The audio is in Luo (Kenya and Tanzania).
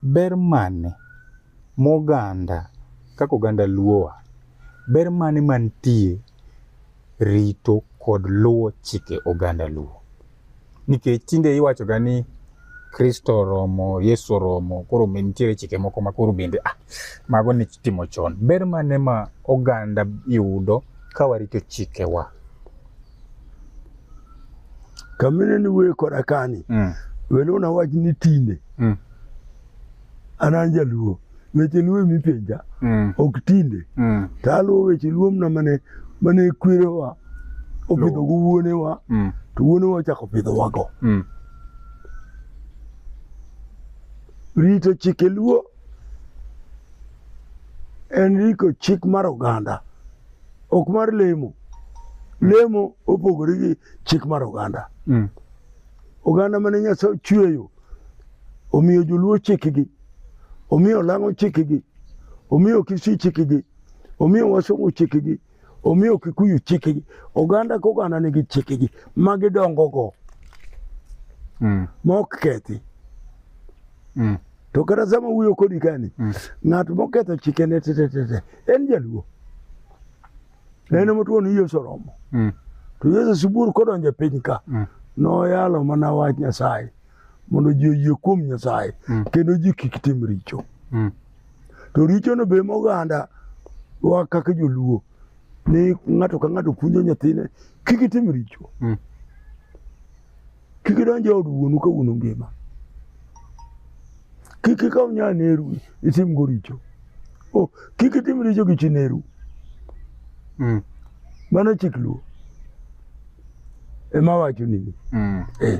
Ber mane moganda kaka oganda Luowa, ber mane mantie rito kod luwo chike oganda Luo? Nikech tinde iwachoga ni Kristo oromo, Yesu oromo, koro nitiere chike moko ma koro bende ah, mago ne timo chon. Ber mane ma oganda yudo ka warito chikewa? kamine ni wuoye koda kani mm. welo na wach ni tinde mm. an an jaluo weche luo emi penja mm. ok tinde mm. to aluwo weche luo mna mane mane kwerewa opidho go wuonewa mm. to wuonewa ochako pidhowago mm. rito chike luo en riko chik mar oganda Ok mar lemo. Lemo opogore gi chik mar oganda. Mm. Oganda mane Nyasaye ochweyo omiyo joluo chikgi, omiyo lang'o chikgi, omiyo kisii chikgi, omiyo wasungu chikgi, omiyo kikuyu chikgi. Oganda ka oganda nigi chikgi ma gidongogo mm. ma ok kethi. Mm. To kata sama wuyo kodi kani, mm. ng'at moketho chike ne tete tete en jaluo. Mm. En ema tuon Yesu romo. Mm. To Yesu sibur kodonjo e piny ka, mm. noyalo mana wach Nyasaye mondo ji oyie kuom Nyasaye mm. kendo ji kik tim richo. Mm. To richono be moganda wa kaka joluo ni ng'ato ka ng'ato puonjo nyathine kik itim richo. Mm. Kik idonj e od wuonu ka wuonu ngima. Kik ikaw nya neru itim go richo. Oh, kik itim richo gi chi neru. Mm. Mano chik luo. Ema wacho nini. Mm. Eh.